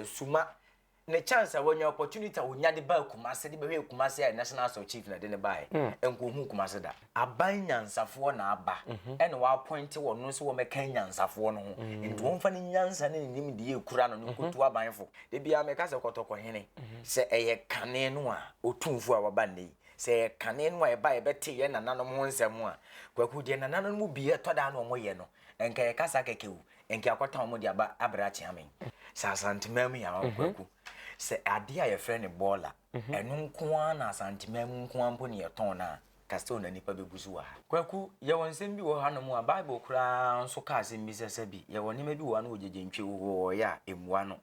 suma ne chance a wanya opportunity a onya de baa Kumase de bɛhwɛɛ Kumase a National Assault Chief na de ne baeɛ mm. nkohu Kumase da. Aban nyansafoɔ na aba mhm. ɛna wɔapɔinte wɔn no sɛ wɔmɛka nyansafoɔ no ho mm. nti wɔmfa ne nyansa ne ne nimdeɛ ekura no no mhm. nkotu abanfo de bia meka sɛ kɔtɔkɔhene mhm. sɛ ɛyɛ kane no a ɔtumfoɔ a waba nnɛ yi sɛ ɛyɛ kane no a ɛba yɛbɛte yɛ nananom ho nsɛm a kwaku deɛ nananom mu bi ɛtɔ daa na wɔyɛ no nka yɛkasa kɛkɛwu Nka yɛakɔtɔn wɔn de aba abrɛ akyea me. Sɛ Asanteman mu yɛn ara kwaku. Sɛ adeɛ a yɛfrɛ no bɔɔla. Ɛno nko ara na Asanteman mu nko ara mpo na yɛtɔn no a, ka sɛ na nnipa bɛgu so wɔ ha. Kwaku, yɛwɔ nsɛm bi wɔ hanom a Bible koraa nso ka asɛm bi sɛ sɛ bi yɛwɔ nneɛma bi wɔ ha na ogyegye ntwe wo hɔɔ yɛ a, mmua no.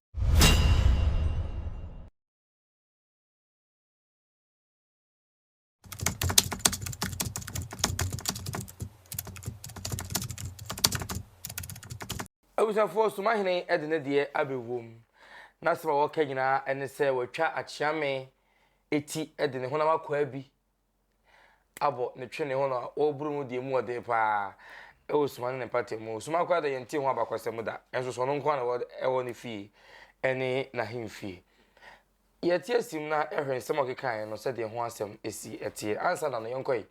abusuafoɔ somahene de ne deɛ abɛwom na sɛm a wɔka nyinaa ne sɛ wɔatwa akyeame eti de ne honam akwaa bi abɔ ne twene ho na wɔreboro mu deɛ mu ɔden paa ɛwɔ suma ne ne mpata mu suma koraa da yɛnte ho abakɔsɛm da ɛnso sɔno nko na ɛwɔ ne fie ɛne n'ahemfie Yɛte asim na hwɛ nsɛm a ɔkekaeɛ no sɛdeɛ ho asɛm si teɛ. Ansa na no, yɛnkɔ yi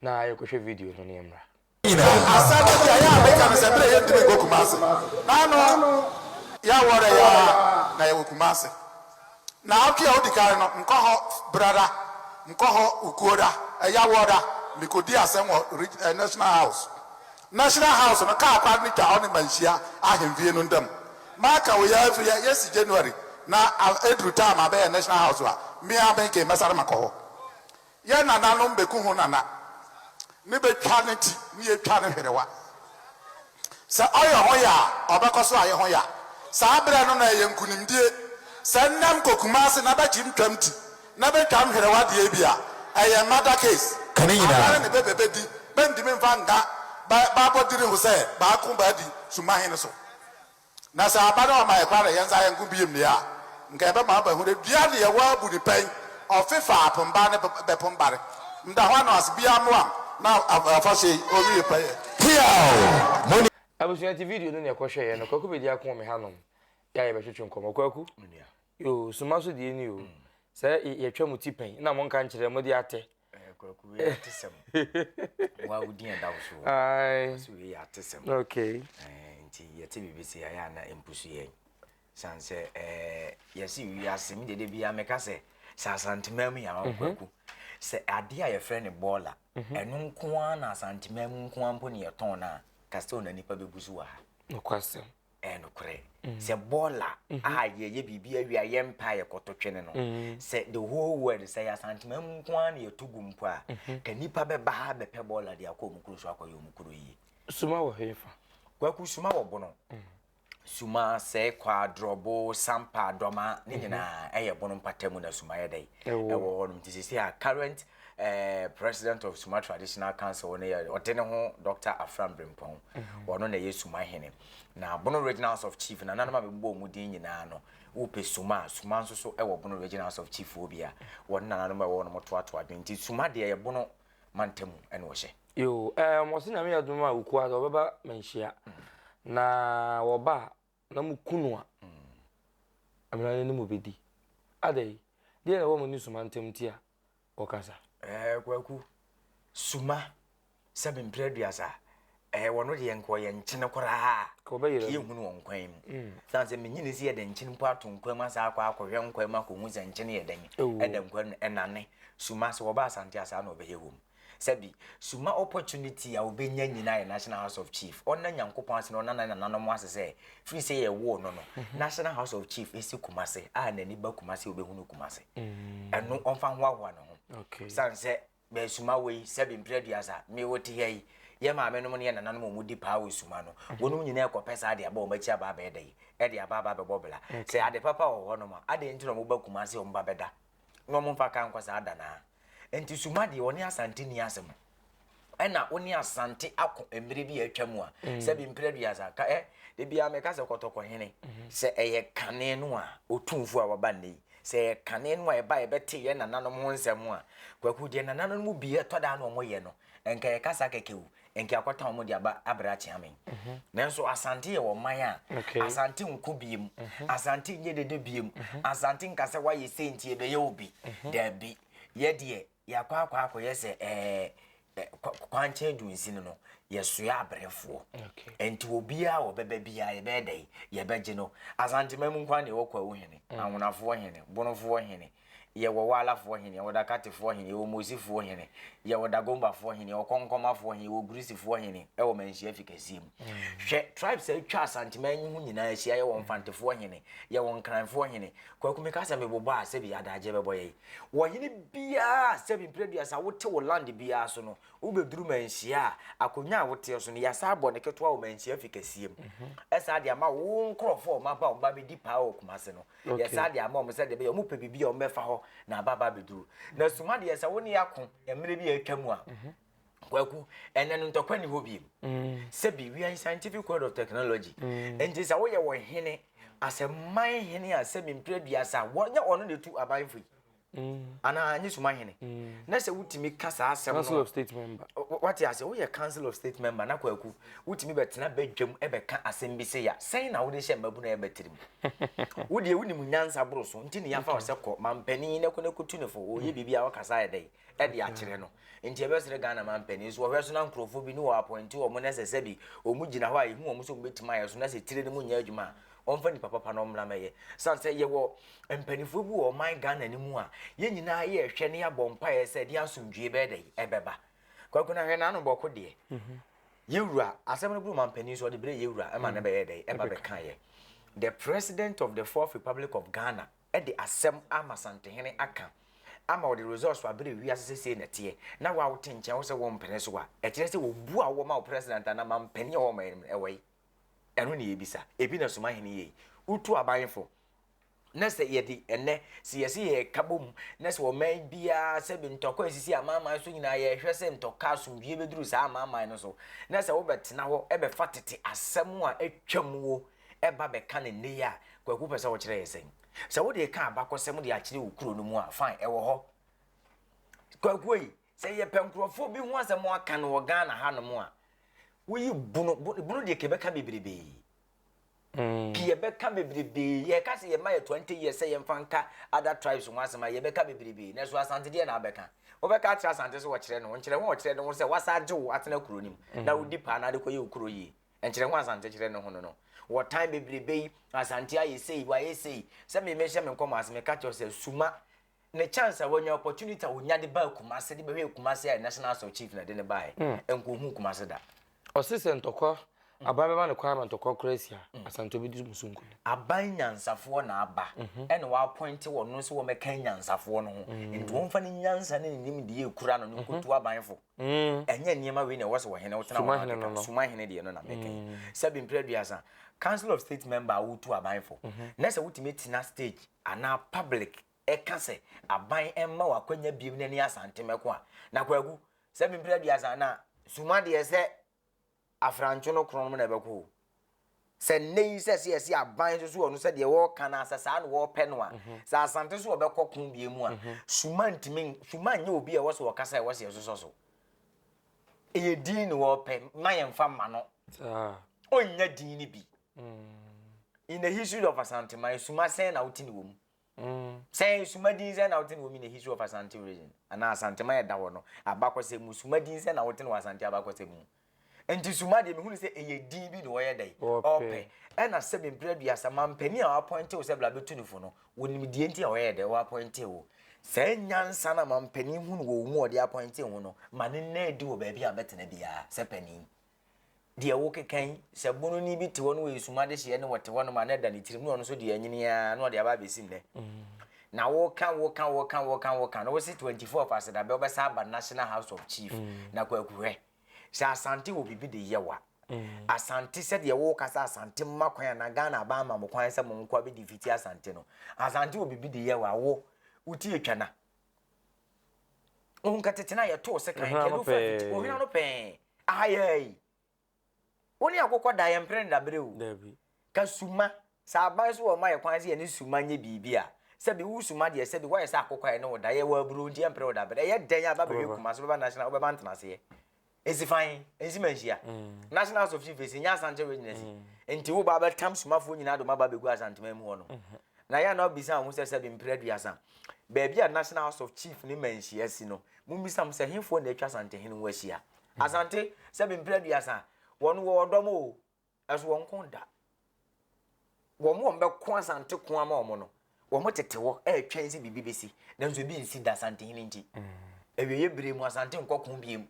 na yɛnkɔhwɛ video no na yɛmmra. Asɛm no deɛ yɛ a meka no sɛ berɛ a yɛntumi nkɔ Kumasi na ano yɛawɔrɛ yɛ ara na yɛwɔ Kumasi. Naawɔtwe a odi kan no mekɔ hɔ berɛ da, mekɔ hɔ ukuo da, ɛyawɔ da, mekɔdi asɛm wɔ National House National House no kaa kwan no twa ɔne Manhyia ahemfie no ntam. Maka wo yɛ afiri a yɛsi January na ɛduru time a bɛyɛ National House a, me ara me nken mɛsane makɔ hɔ. Yɛ nananom bɛku ho nana ne bɛtwa ne ti ne yɛtwa ne hwerewa. Sɛ ɔyɛ ho ya a, ɔbɛkɔ so ayɛ ho ya. Saa berɛ no na ɛyɛ nkunimdie sɛ nnɛ mkɔ Kumasi na bɛkyim twam ti Na bɛ twa mherewa deɛ bi a, ɛyɛ murder case. Ka ne nyinaa. Abɛrɛ ne bɛ bɛ bɛ di, bɛ ntimi nfa nka bɛ bɛ abɔdiri ho sɛ bɛ ako bɛ adi summa he no so. Na sɛ aba na ɔma yɛ kwan na yɛ nsa yɛ nko biem deɛ a, nka yɛ bɛ ma aba hunu dua ne yɛ wɔ abu ne pɛn, ɔfe fa apomba ne bɛ pombare. Mda hɔ anoase, biaa mmoam na afahyɛ yi ɔwie pɛyɛ. Teaw! Mo ne. Abusua nti video no na yɛkɔ hwɛeɛ no Kwaku Bedi ako wɔ me ha nom yɛ a yɛbɛtwetwe nkɔmmɔ Kwaku. Me nua. Yoo suma so deɛ ni o. Mm. Sɛ yɛtwa mu ti pɛn na monka nkyerɛ mo de atɛ. Eh, kwaku wei ate sɛm. Wa wo din ɛda wo so. Ai. So wei ate sɛm. Okay. Eh, nti yɛte biribi sɛ yɛayɛ ana mpusu yɛn. San sɛ eh yɛsi wiase mi dede bia meka sɛ sɛ asantema mu yɛ awɔ mhm. kwaku. Sɛ adeɛ a yɛfrɛ no bɔɔla mhm. ɛno nko ara na asantema mu nko ara mpo ne yɛtɔn no a kasɛ na nipa bɛgu so wɔ ha. Nokwasɛm. Ɛyɛ nokorɛ sɛ bɔɔla a yɛyɛ biribi awie a yɛn paa yɛ kɔto twene no sɛ the whole world sɛ yɛ asantema mu nko ara na yɛto gu mpo a ka nipa bɛba ha bɛpɛ bɔɔla de akɔ ɔmo kuro so akɔyɛ ɔmo kuro yie. Suma wɔ he fa? Kwaku suma wɔ bono. Suma sɛ kwa drɔbo sampa dɔma ne nyinaa ɛyɛ bono mpata mu na suma yɛ dɛ ɛwɔ hɔ nom nti sisi a current President of Suma Traditional Council no yɛ ɔde ne ho Dr. Afram Brimpong mhm. ɔno na ɛyɛ Suma hene na Bono Regional House of Chief na nanom a bɛbɔ wɔn din nyinaa no wopɛ Suma Suma nso so ɛwɔ Bono Regional House of Chief wɔ bi a wɔn na nanom ɛwɔ wɔn toatoa adwene nti Suma deɛ yɛ Bono mantamu ɛna ɔhyɛ. Yoo ɛɛ wɔsi nyame yɛ dum a okua sɛ ɔbɛba manhyia mhm. na wɔba Na mo ku no a, Amena no ne mo bɛdi. Adɛn, deɛn na ɛwɔ mo ne Suma ntam nti a wɔkasa? Ɛɛ, Kwaku, Suma, sɛbe mprɛ aduasa, ɛɛ, wɔno deɛ nka ɔyɛ nkyene koraa. Ka wɔbɛyera no. Kii ehunu wɔ nkwan mu. Mm. Sane sɛ menye ne si yɛ dɛ nkyene mpo ato nkwan mu asa akɔ akɔhwɛ nkwan mu akɔhu sɛ nkyene yɛ dɛn. Ɛda nkwan mu ɛnane. Suma, sɛ wɔba Asante a saa na ɔbɛyɛ wɔ mu. Sɛbi, suma opportunity a obenya nyina yɛ National House of Chief. Ɔnna Nyankopɔn ase na ɔnna ne nananom ase sɛ, firi sɛ yɛwoo no no, National House of Chief si Kumase, a n'ani ba Kumase a obehunu Kumase. Ɛno, ɔmfa nhoahoa ne ho. Esiane sɛ bɛyɛ suma wei, sɛbi, mprɛ aduasa, me wote ha yi, yɛ maamenom ne yɛ nananom a wɔdi paa wɔ suma no, wɔnom nyina rekɔpɛ saa de aba wɔn akyi aba abɛyɛ dɛ yi? De aba aba abɛbɔ bla. Sɛ ade papa wɔ hɔnom a, adɛn nti na wɔba Kumase a wɔba bɛda? na wɔn mfa ka nkɔ saa da naa. Nti suma deɛ wɔne asante ni asɛm. Ɛna wɔne asante ako mmerɛ bi a atwa mu a, mm. sɛ bi mprɛ duasa ka ɛ, de bi a meka sɛ kɔtɔkɔ hene, mm-hmm. sɛ ɛyɛ kane no a, otumfo a waba nnɛ yi, sɛ ɛyɛ kane no a ɛba ɛbɛte yɛ nananom ho nsɛm a, kwaku deɛ nananom mu bi ɛtɔ daa na wɔyɛ no, nka yɛkasa kɛkɛ o, Nkeakwata wɔn de aba abrɛ akyea me. Nanso Asante yɛ ɔman a Asante nko biem, Asante nyɛ dede biem, Asante nka sɛ wayɛ sei nti yɛbɛyɛ wo bi. Daabi, yɛ deɛ yɛakɔ akɔ akɔyɛ sɛ ɛɛ kwankyɛn du nsini no yɛsoa abrɛfoɔ nti obiara wɔbɛbɛ biara yɛbɛyɛ dɛ yɛbɛgye no asanteman mu nkwan na ɛwɔ kwawu hene ahonafoɔ hene bonofoɔ hene Yɛwɔ Waalafoɔ hene, yɛwɔ Dakatefoɔ hene, yɛwɔ Mosifoɔ hene, yɛwɔ Dagombafoɔ hene, yɛwɔ Kɔnkɔmafoɔ hene, yɛwɔ Gurisifoɔ hene wɔ Manhyia Fi kɛseɛ mu. Hwɛ tribes a atwa Asanteman yi ho nyinaa ahyia, yɛwɔ Mfantefoɔ hene, yɛwɔ Nkranfoɔ hene. Kwaku meka sɛ mebobɔ a sɛbi adagyeɛ bɛbɔ yɛn. Ɔhene biara a sɛbi mprɛduasa wote wo land biara so no, wobɛduru Manhyia a, akonnwa a woteɛ so no, yɛasan abɔ no ketewa wɔ Manhyia Fi kɛseɛ mu. Ɛsaa de ama wo nkorɔfoɔ a wɔaba a wɔba bɛdi paa wɔ Kumase no. Yɛ saa de ama wɔn sɛdeɛ ɛbɛyɛ a wɔpɛ biribi a wɔbɛfa hɔ na aba aba abɛduru. Na suma deɛ sɛ wo ne ako mmerɛ bi a atwa mu a, kwaku ɛnɛ no ntɔkwa ni hɔ biem sɛbi we are in scientific world of technology nti sɛ woyɛ wɔ hene asɛ man hene a sɛbi mpere aduasa wɔnyɛ ɔno na ɛtu aban fo yi anaa nye suma hene na sɛ wotumi ka saa asɛm no of state member wate ase woyɛ council of state member na kwaku wotumi bɛtena bɛdwam ɛbɛka asɛm bi sɛ ya sɛn na wode hyɛ mmabu na ɛbɛtirim wodeɛ wonim nyansa boro so nti ne yɛafa wo sɛ kɔ mampanin na kɔ na kɔtu ne fo wɔyɛ mm. biribi a wɔkasa yɛ dɛn ɛde akyerɛ no nti ɛbɛsrɛ ghana mampanin so wɔhwɛ so na nkurɔfoɔ bi ne wɔ apɔnti wɔ mo na sɛ sɛ bi wɔn gyina hɔ a ɛhu wɔn sɛ wɔbɛtumi ayɛ so na sɛ tire no mu nyɛ adwuma a Wɔmfa nipa papa na ɔmmra mmɛyɛ. San sɛ yɛwɔ mpanimfoɔ bi wɔ ɔman Ghana no mu a, yɛn nyinaa yɛ rehwɛ na yɛabɔ mpaeɛ sɛ ɛdeɛ asomdwoeɛ bɛyɛ dɛ ɛbɛba. Kwaku na hwɛ n'ano bɔko deɛ. Mhm. Yɛwura, asɛm no buru mampanin nso ɔde berɛ yɛwura ɛma no mm. bɛyɛ dɛ ɛba bɛka yɛ. The president of the fourth republic of Ghana ɛde asɛm ama Santehene aka ama wɔde results abere wiase sɛ sei na ɛteɛ na wawote nkyɛn wo sɛ wɔmpene so a ɛkyerɛ sɛ wɔbu a wɔma wo president anaa mampanin a wɔma ɛwɔ yi Ɛno na yɛbisa. Ebi na soma hene yei. Wotu aban fo. Na sɛ yɛde ɛnɛ, sɛ yɛse yɛreka bom, na sɛ ɔman biara sɛ bi ntɔkwa nsisi amanaman so nyinaa, yɛhwɛ sɛ ntɔkwa asomdwie bɛduru saa amanaman no so, na sɛ wobɛtena hɔ bɛfa tete asɛm a atwam wo ba bɛka no nnɛ yi a, Kwaku pɛ sɛ wokyerɛ yɛ sɛn? Sɛ wode reka abakɔsɛm de akyerɛ wo kuro no mu a, fine, ɛwɔ hɔ. Kwaku ei, Sɛ yɛpɛ nkurɔfoɔ bi ho asɛm aka no wɔ Ghana hanom a, woyi Bono, Bono, Bono deɛ kɛbɛka bebrebee. Mm. Ke yɛbɛka bebrebee, yɛka sɛ yɛma yɛ 20 years sɛ yɛmfa nka other tribes ho asɛm a yɛbɛka bebrebee, na ɛso Asante deɛ na abɛka. Wobɛka akyerɛ Asante sɛ wɔkyerɛ no, nkyerɛ ho a ɔkyerɛ no ho sɛ wasa agye wo atena kuro no mu, mm. na wodi paa na ade kɔyɛ wo kuro yie. Nkyerɛ ho Asante kyerɛ no ho no no. Wɔ time bebrebee, Asante ayɛ sei, wayɛ sei. Sɛ me mehyɛ me nkɔmmɔ ase, meka kyerɛ sɛ suma ne chance a wanya opportunity a wonya de baa Kumase de bɛhwɛ Kumase a national asɔ chief na de ne baeɛ hmm. nkohu Kumase da. ɔse sɛ ntɔkwa hmm. aban bɛma ne kwan ma ntɔkwa kora asi a hmm. asantɔ bɛdi mu so nkonim aban nyansafoɔ na aba mhm. ɛna wɔapɔinte wɔno sɛ wɔmɛka nyansafoɔ no ho nti wɔmfa ne nyansa ne ne nimdeɛ kura no ne nkɔtu abanfo Ɛnyɛ nneɛma wei na ɛwɔ sɛ ɔhene wotena hɔ akeka no. Suma hene deɛ no na mɛka yi. Sɛbi mprɛ aduasa, Council of State member a wotu aban fo, na sɛ wotumi tena stage anaa public ɛka sɛ aban mma wo akwanya biom na ɛne Asante mɛko a, na Kwaku, sɛbi mprɛ aduasa na Suma deɛ sɛ Afranco no korɔnom na ɛbɛkɔ o. Sɛ nnɛ yi sɛ sɛ yɛse aban nso so wɔ no sɛ deɛ wɔreka no a sɛ saa na wɔrepɛ no a, sɛ Asante so wɔbɛkɔ ko deɛ mu a, Suma ntumi, Suma nyɛ obi a ɛwɔ sɛ wɔkasa a ɛwɔ sɛ yɛsosɔ so. Ɛyɛ din na wɔrepɛ, ma yɛmfa mma no. Ɔnnya din no bi. In the history of Asanteman, Suma sɛn na wote ne wɔ mu? Mm. Sɛ suma din sɛ na wote no wɔ mi na history of Asante region anaa Asantema a ɛda hɔ no abakɔsɛm mu suma din sɛ na wote no wɔ Asante abakɔsɛm mu. Nti suma deɛ mehu no sɛ ɛyɛ din bi na wɔyɛ dɛn ɔpɛ ɛna sɛbe mpere aduasa mampanin a wɔapɔnte wo sɛ bla bɛtu no fo no wɔnim deɛ nti a wɔyɛ dɛn wɔapɔnte wo saa nyansa na mampanin hunu wɔ wo mu ɔde apɔnte ho no ma ne nna adi wɔ baabi a bɛtena biara sɛ panin deɛ wokeka yi, sɛ bononi bi te hɔ no wɔ esum adehyeɛ ne wɔte hɔ nom a na ɛda ne tirim na ɔno nso deɛ anyini ara na ɔde aba abɛsi nnɛ mm. na woka woka woka woka woka na wose 24 of asedabɛ wobɛsa aba national house of chief mm. na kwakuhwɛ sɛ asante wɔ biribi de yɛ wa mm. asante sɛdeɛ woka sɛ asante mma kwan anaa ghana aba ama mo kwan sɛ monkɔ abɛdi fiti asante no asante wɔ biribi de yɛ wa wo wotie twa na Ohun ka tete na yɛtoo sekan kɛlu fa fiti ohwina no pɛn aha yɛ yi. Wo ne akokɔ da yɛ mpere nda bere o. Ka suma sɛ aban so wɔ ma yɛ kwan sɛ yɛne suma nyɛ biribi a sɛbi wo suma deɛ sɛbi woayɛ sɛ akokɔ a yɛne wo da yɛ wɔ aburo nti yɛ mpere wo da bere ɛyɛ dɛn a bɛbɛhwɛ Kumase bɛba national wobɛba ntenaseɛ Esifan, ensi ma nhyia. Mm. National House of Chief esi nya asante wɔ nyina si. Mm. Nti wo ba bɛtam somafoɔ nyinaa dɔm aba bɛgu asanteman mu hɔ no. Mm-hmm. Na yɛ na ɔbisa ho sɛ sɛ bi mprɛ duasa. Baabi a National House of Chief ne ma nhyia si no, mo mbisa mo sɛ hefoɔ na atwa asante hene ho ahyia. Mm. Asante sɛ bi mprɛ duasa, wɔn wɔ ɔdɔm o, Nanso wɔnko da. Wɔn a wɔbɛko Asante ko ama wɔn no, wɔtete hɔ retwɛn sɛ biribi bɛsi, nanso ebi nsi da Asantehene nti. Awieeɛ bere mu Asante nkɔko biem.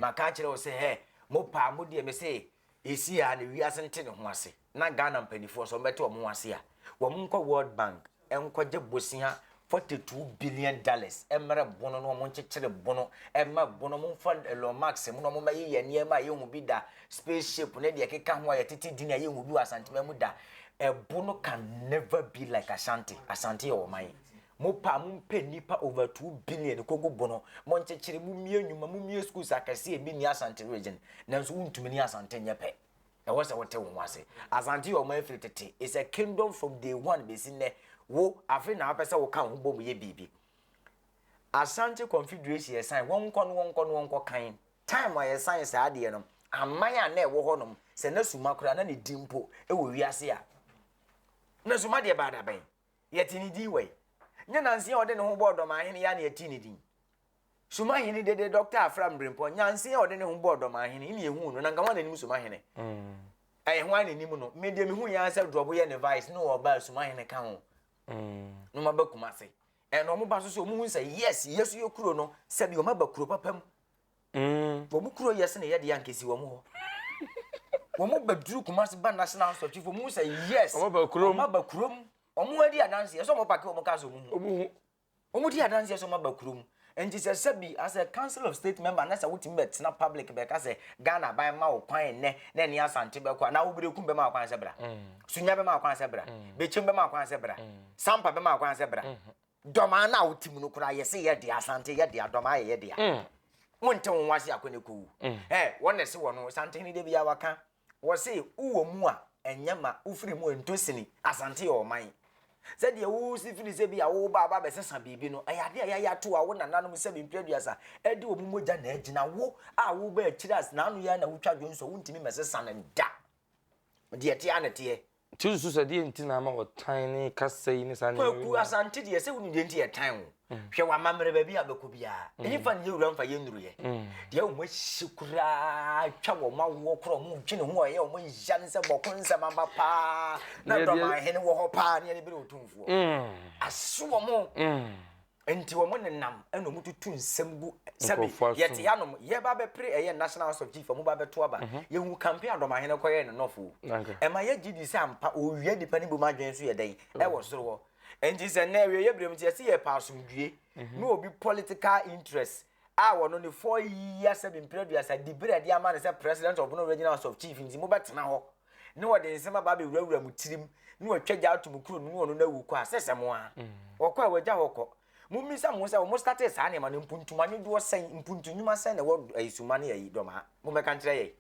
Maka akyerɛ wo sɛ, hɛ, mo paa mo deɛ me se ɛsi a na wiase nte ne ho ase, na Ghana mpanimfoɔ nso wɔbɛte wɔn ho ase a, wɔnkɔ World Bank. nkɔgye bosea forty two billion dollars mmrɛ bono na wɔn nkyekyere bono ɛma bono wɔn mfa Elon Musk mu na wɔn mɛyɛ yɛ nneɛma a yɛhu bi da spaceship ne deɛ ɛkeka ho a yɛtete din a yɛhu bi wɔ asantema mu da ɛbono can never be like Ashanti Asante yɛ ɔman mo pa mo mpɛ nipa over two billion kogu bono mo nkyekyere mo mie nnwuma mo mie schools akɛseɛ bi ni Asante region nanso wontumi ni Asante nyɛ pɛ Ɛwɔ sɛ wote wo ho ase. Asante yɛ ɔman firi tete. It's a kingdom from day one bɛsi nnɛ. Wo, afei na wopɛ sɛ woka wo ho bom yɛ biribi. Asante Confederation yɛsan, wɔnkɔ no wɔnkɔ no wɔnkɔ kan. Time a yɛsan saa adeɛ no, aman a na ɛwɔ hɔnom, sɛ na suma koraa na ne din mpo wɔ wiase a, na suma deɛ baa da bɛn? Yɛte ne din wɔ yi. Nyɛ Nanse a ɔde ne ho bɔɔ Dɔm ahene yi a na yɛte ne din. Somahene dede Dɔkta Afra Mbrempɔ, nyansa a ɔde ne ho bɔɔ Dɔmahene, ne yɛhuu no, na nka ho ara n'anim Somahene. Mm. Ɛyɛ ho ara n'anim no, me deɛ mehu yɛn sɛ Drɔbo yɛ ne vice, ne ɔba Somahene ka ho. Mm. Na ɔmaba kuma ase. Ɛna ɔmo ba so so ɔmo hu sɛ yes, yɛ so yɛ kuro no, sɛbi ɔmo aba kuro papa mu. Mm. Ɔmo kuro yɛ sɛ na yɛ de ankesi ɔmo hɔ. Ɔmo ba duru kuma ase ba national hospital chief, ɔmo hu sɛ yes, ɔmo aba kurom. Ɔmo adi adansi, ɛsɛ ɔmo pake ɔmo ka so ɔmo hu. Ɔmo di adanseɛ sɛ ɔmo aba kurom nti sɛ sɛbi as a council of state member na sɛ wotumi bɛtena public bɛka sɛ Ghana aban ma wo kwan nnɛ na ɛne Asante bɛkɔ anaa Oberekum bɛma wo kwan sɛ bra, Sunya bɛma wo kwan sɛ bra, Bekyem bɛma wo kwan sɛ bra, Sampa bɛma wo kwan sɛ bra. Dɔmaa no a wote mu no koraa yɛse yɛ dea, Asante yɛ dea, Dɔmaa yɛ yɛ dea. Wonte wo ho ase akɔ ne kɔwu. Hɛ, wɔn na ɛse wɔn ho, Santehene da biara waka. Wɔse wo wɔ mu a, ɛnyɛ ma wofiri mu nto sini. Asante yɛ ɔman. Sɛdeɛ wosi firi sɛ bi a woreba aba abɛsesa biribi no, ɛyɛ adeɛ a yɛayɛ ato a wo nananom sɛbe mfiri aduasa de wɔn mogya na agyina. Wo a woreba akyire a n'ano yɛ a na wotwa dwonsɔ, wontumi mmɛsesa no da. Deɛ ɛteɛ ara na ɛteɛ. Nti wosusu sɛ deɛ nti na ama ɔtan ne kasa yi ne saa nneɛma Kwaku Asante deɛ sɛ wonim deɛ nti yɛtan wo. Mm. Hwɛ w'amammerɛ baabi a bɛkɔ biara. Mm. Ɛne fa ne yɛ wura mfa yɛ nnuruyɛ. Mm. Deɛ wɔn ahyi koraa twa wɔn awoɔ korɔ wɔn dwene ho a ɛyɛ wɔn nhyia ne sɛ bɔko nsɛm aba paa na dɔmahene wɔ hɔ paa ne ɛne bere ɔtumfoɔ. Aso wɔn. Nti wɔn nenam na wɔn tutu nsɛm gu sɛbi yɛte hanom yɛba bɛpere ɛyɛ national house of chief wɔn ba bɛto aba mhm. yɛhu kampe adɔmahene kɔyɛ ne nɔfo ɛma yɛ gye di sɛ ampa owia nipa ne bom adwene so yɛ dɛn mhm. ɛwɔ soro hɔ nti sɛ nnɛ ɛwɛ yɛ binom nti yɛsi yɛ pa asomdue mhm. ne obi political interest a wɔn ne four years sɛbi mpere aduasa di bere ɛde ama ne sɛ president of no regional house of chief nti mo bɛtena hɔ. Ne wɔde nsɛm aba abɛwurawura mo tirim, ne wɔatwa gya ato mo kunu no ne ɔno no awu kɔ a, sɛ sɛ mo a. Mm. Wɔkɔ a wɔagya hɔ kɔ. Mommisa mo ho sɛ wɔn statee saa nneɛma no mpuntuma no doɔ sɛn, mpuntu nnwuma sɛn na ɛwɔ ayi suma ne ayi dɔmaa. Mommɛka nkyerɛ yɛn.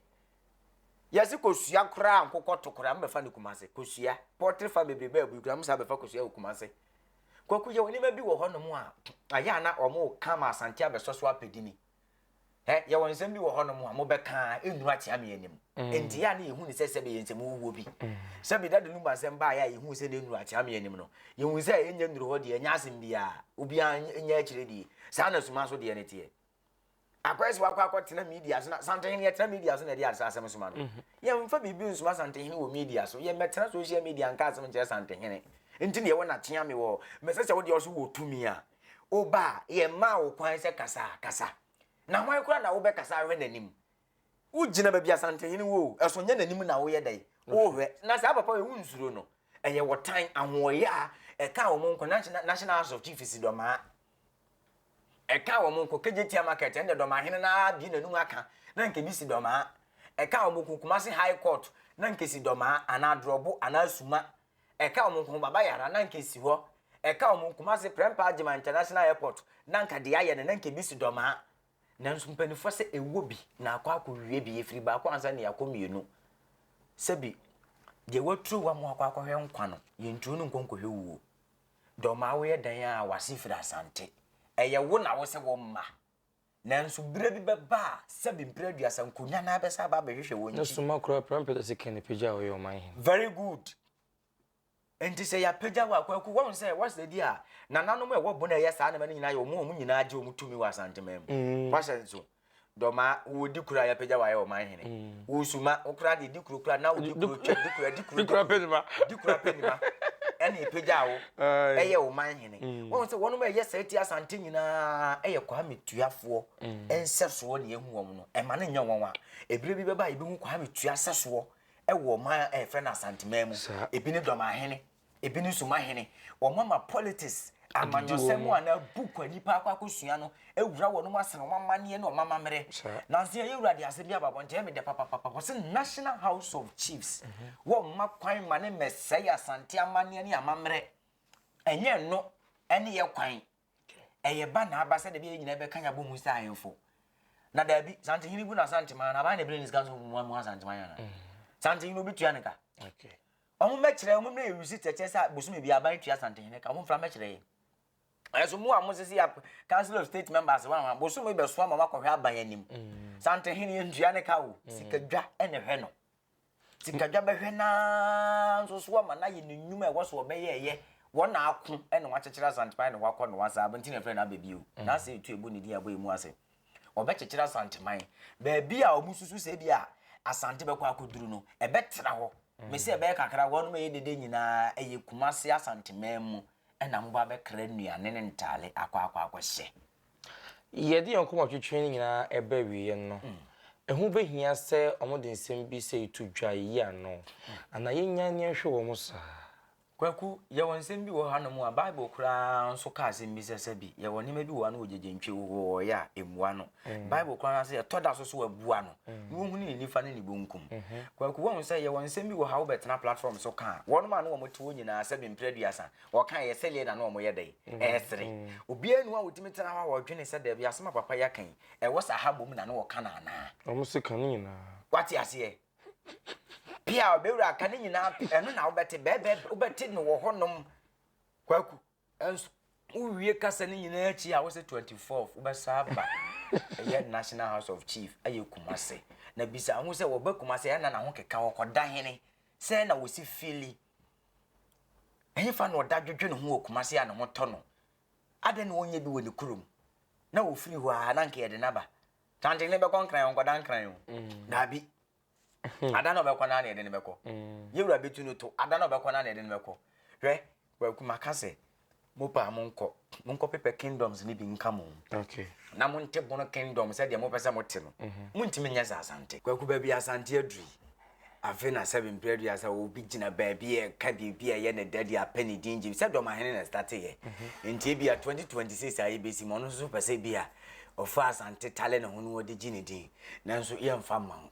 Yɛse kosua koraa nkokɔto koraa mobɛfa no Kumase. Kosua. Pɔtre fa bebrebe abui koraa mo saa bɛfa kosua wɔ Kumase. Kwaku yɛ nneɛma bi wɔ hɔnom a ayɛ a na wɔn ka ma asante abɛsɔ so apɛdi ni. Ɛ, yɛwɔ nsɛm bi wɔ hɔnom a mobɛka a ɛnnuru akyea me anim. Enti a na yɛhu ne sɛ sɛ bɛyɛ nsɛm wuwuo bi. Sɛ me dade no mu asɛm baeɛ a yɛhuu sɛ na ɛnnuru akyea me anim no, yɛhuu sɛ ɛnyɛ nnuru hɔ deɛ, ɛnyɛ asɛm biara, obiara nyɛ akyire die. Saa na suma so deɛ no teɛ. Akɔyɛ sɛ wakɔ akɔtena media so na santehene yɛtena media so na ɛde asa asɛm soma no. Yɛmfa biribi nsoma santehene wɔ media so. Yɛmmɛtena social media nka asɛm nkyerɛ santehene. Enti na yɛwɔ n'akyea me wɔ, mɛsɛ sɛ wodeɛ ɔso wɔ tumi a. Wo ba a, yɛmmaa wo kwan sɛ kasa a, kasa. Na hwan koraa na wobɛkasa ahwɛ n'anim? Wogyina baabi a Asantenhene wɔ o, ɛso nyɛ n'anim na woyɛ dɛn? Wohwɛ. Na saa papa wei, wonsuro no. Ɛyɛ ɔtan, ahoɔyaa, ɛkaa wɔn nko, National, National House of Chiefs dɔmaa. Ɛkaa wɔn nko, Kejetia Market, ɛnna dɔmaa hene no ara bie n'anum aka, na nka ebi si dɔmaa. Ɛkaa wɔn nko, Kumasi High Court, na nka esi dɔmaa, anaa Adrɔbo, anaa Suma, Ɛka wɔn nko ho baba yɛ ara na anka esi hɔ. Ɛka wɔn Kumasi Prempeh Agyeman International Airport na anka deɛ ayɛ no na anka ebi si Dɔmaa. Nanso mpanimfoɔ sɛ ɛwɔ bi na akɔ akɔwie bi, efiri baako ansa na yɛakɔ mmienu. Sɛbi deɛ waturo wɔn akɔ akɔhwɛ nkwa no, yɛnturo no nkɔ nkɔhwɛ wuo. Dɔmaa woyɛ dɛn a w'ase firi Asante? Ɛyɛ wo na wose wo mma. Nanso bere bi bɛba a sɛbe mpire aduasa nkonya no ara bɛsan aba abɛhwehwɛ wɔn Na akyi. suma koraa Prime Peterson Kennedy pagya a ɔyɛ ɔman hene. Very good. Nti sɛ yɛapagya wo a, Kwaku, woahu sɛ woasɛ bi a nananom a ɛwɔ Bona a ɛyɛ saa nneɛma no nyinaa yɛ wɔn a wɔn nyinaa gye wɔn tumi wɔ Asanteman mu. Woahyɛ nso. Dɔmaa, wowɔ Dikuro a yɛapagya wo ayɛ ɔman hene. Wo Suma, wo koraa deɛ Dikuro koraa na wo Dikuro twa Dikuro Dikuro Dikuro apɛ nima. Dikuro apɛ nima ɛna ɛpagyaa wo Aye. ɛyɛ ɔman hene. wɔn sɛ wɔn a ɛyɛ saa ti asante nyinaa ɛyɛ kwame tuafoɔ mm. nsɛsoɔ na ehu wɔn no ɛma ne nyɛ wɔn a ebire bi bɛba ebi hu kwame tua sɛsoɔ ɛwɔ ɔman a ɛfrɛ no asanteman mu ebi ne dɔmahene ebi ne sumahene wɔn ama politics amanyɔsɛm a na book a nipa akɔ akɔsua no ewura wɔn mu asɛn wɔn amaneɛ ne wɔn amammerɛ nanso yɛ ewura de ase bi ababɔ nkyɛn mi dɛ papapapa wɔsi national house of chiefs mhm. wɔn mma kwan ma ne mɛsɛe asante amaneɛ ne amammerɛ. Ɛnyɛ ɛno ne yɛn kwan. Ɛyɛ ba na aba sɛ dabi yɛn nyinaa bɛka yɛn abɔ mu sɛ ahemfo. Na dabi, Santehene bu no Asanteman na aban na ebire ne sika nso mu amu Asanteman yana. Mm. Santehene obi tua ne ka. Okay. Wɔn mɛkyerɛ wɔn mmerɛ yɛ receipt ɛkyɛ sɛ bosome bi aban tua Santehene ka wɔn mfra mɛkyerɛ yɛ. Ɛso mu a mo sisi ya Council of State members wɔn a bosome bɛso ama wɔakɔhwɛ aban anim. Mm. Santehene yɛn tua ne ka o. Mm. Sikadwa ɛna hwɛ no. Sikadwa bɛhwɛ no ara nso so ama no ayɛ ne nnwuma a ɛwɔ so ɔbɛyɛɛyɛ. Wɔn na ako na wɔakyekyere Asanteman na wɔakɔ Noa saa, nti na ɛfrɛ no Aba bio. N'ase retu abu ne din a ɛbɔ yɛ mu ase. Wɔbɛkyekyere Asanteman. Baabi a wɔsusu sɛ bi a Asante bɛkɔ akɔduru no, ɛbɛtra hɔ. Mese ɛbɛyɛ kakra, wɔnom ɛyɛ dede nyinaa ɛyɛ Kumase Asanteman mu na mobɔ abɛkra nnuane ne ntaale akɔ akɔ akɔhyɛ. Yɛde yɛn koma twetwe ne nyinaa ba awieeɛ no, ɛho bɛhia sɛ wɔde nsɛm bi sɛ to dwa yi ano, anaa yɛnnya ne nhwe wɔn saa. Kwaku, yɛwɔ nsɛm bi wɔ hanom a Bible koraa nso ka asɛm bi sɛ sɛ bi yɛwɔ nneɛma bi wɔ ano wɔ gyegyenntwe wowɔɔeɛ a, ɛmmua no. Bible koraa ka sɛ yɛtɔ da so so abua no na ɔhunu ne nifa ne ne bonkum. Kwaku, woahu sɛ yɛwɔ nsɛm bi wɔ ha wobɛtena platform so ka a, wɔnom a ne wɔte hɔ nyinaa sɛ bi mprɛ aduasa Wɔka yɛ sɛdeɛ na na wɔn yɛ dɛn? Ɛresere. Obiara nni hɔ a ɔtumi tena hɔ a ɔdwene sɛ daabi asɛm a papa yi aka yi, ɛwɔ saa ha mmom na na wɔka no anaa? Wɔn se ka ne nyinaa. Wate aseɛ? Pia a ɔbɛwura ka ne nyinaa ɛno na wobɛte bɛɛbɛ wobɛte no wɔ hɔnom kwaku. Ɛnso wowie kasa ne nyinaa akyi a wosɛ 24 wobɛsa aba ɛyɛ National House of Chief ɛyɛ Kumase na bisa ho sɛ wɔba Kumase ɛna na ho keka wɔkɔda hene sɛ na wɔsi fili Ɛhefa na ɔda dwodwo ne ho wɔ Kumasi a ne ho tɔ no? Adɛn na ɔnyɛ bi wɔ ne kurom? Na ɔfiri hɔ a, na anka yɛde no aba. Tanten ne bɛkɔ Nkran, ɔnkɔda Nkran o. Daabi. Ada na ɔbɛkɔ no ara na yɛde no bɛkɔ. Yɛwura bɛtu no to, ada na ɔbɛkɔ no ara na yɛde no bɛkɔ. Hwɛ, Kwaku, maka sɛ, Mo paa mo nkɔ, mo nkɔ pepɛ kingdoms ne bi nka mo. Okay. Na mo nte bono kingdom sɛ deɛ mo pɛ sɛ mo te no. Mhm. Mo ntumi nyɛ sɛ asante. Kwaku baabi asante aduri. Afe na sɛbi mpere adua sɛ obi gyina baabi a ɛka biribi a ɛyɛ ne dɛ de apɛ ne din gye sɛ dɔmahene na ɛstate yɛ. Mhm. Nti ebi a 2026 a yɛbɛsi mu ɔno nso pɛ sɛ bi a ɔfa asante tale ne ho no ɔde gye ne din. Nanso yɛmfa mma wo.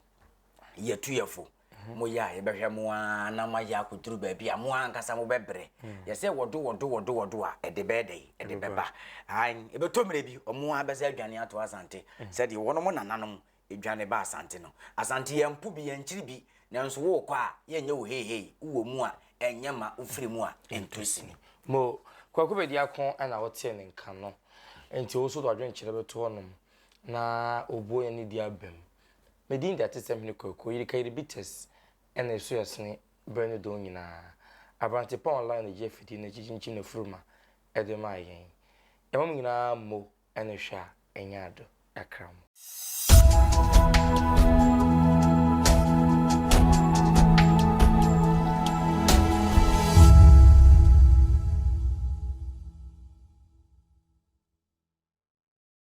Yɛtu yɛfo. Moyɛ a, yɛbɛhwɛ mo ara na moayɛ akɔduru baabi a mo ara ankasa mobɛbrɛ. Yɛ sɛ wɔdo wɔdo wɔdo wɔdo a, ɛde bɛyɛ dɛn? Ɛde bɛba. Aane, ɛbɛtɔ mmerɛ bi, wɔn ara bɛsan adwane ato Asante, sɛdeɛ wɔnom nananom dwane baa Asante no. Asante, yɛmpo bi, yɛnkyere bi, nanso worekɔ a, yɛnyɛ wo heihei, wowɔ mu a, ɛnyɛ ma, wofiri mu a, ɛntu sini. Mo, Kwaku Bediako na wotee ne nka no, enti wo nso wode w'adwenkyerɛ bɛto hɔnom na wobuo yɛn ne bi abam. Me din de Atesɛm Hene Kwaku Oyirikairi Bites na ɛso yɛ sene berɛ ne dɔn nyinaa. Aberantepɔn Online na ɛgye afidie no akyi kyinkyin n'afuru ma ɛde maa yɛn. Yɛma mo nyinaa mo ne hwɛ a ɛnyɛ ado ɛkra mo.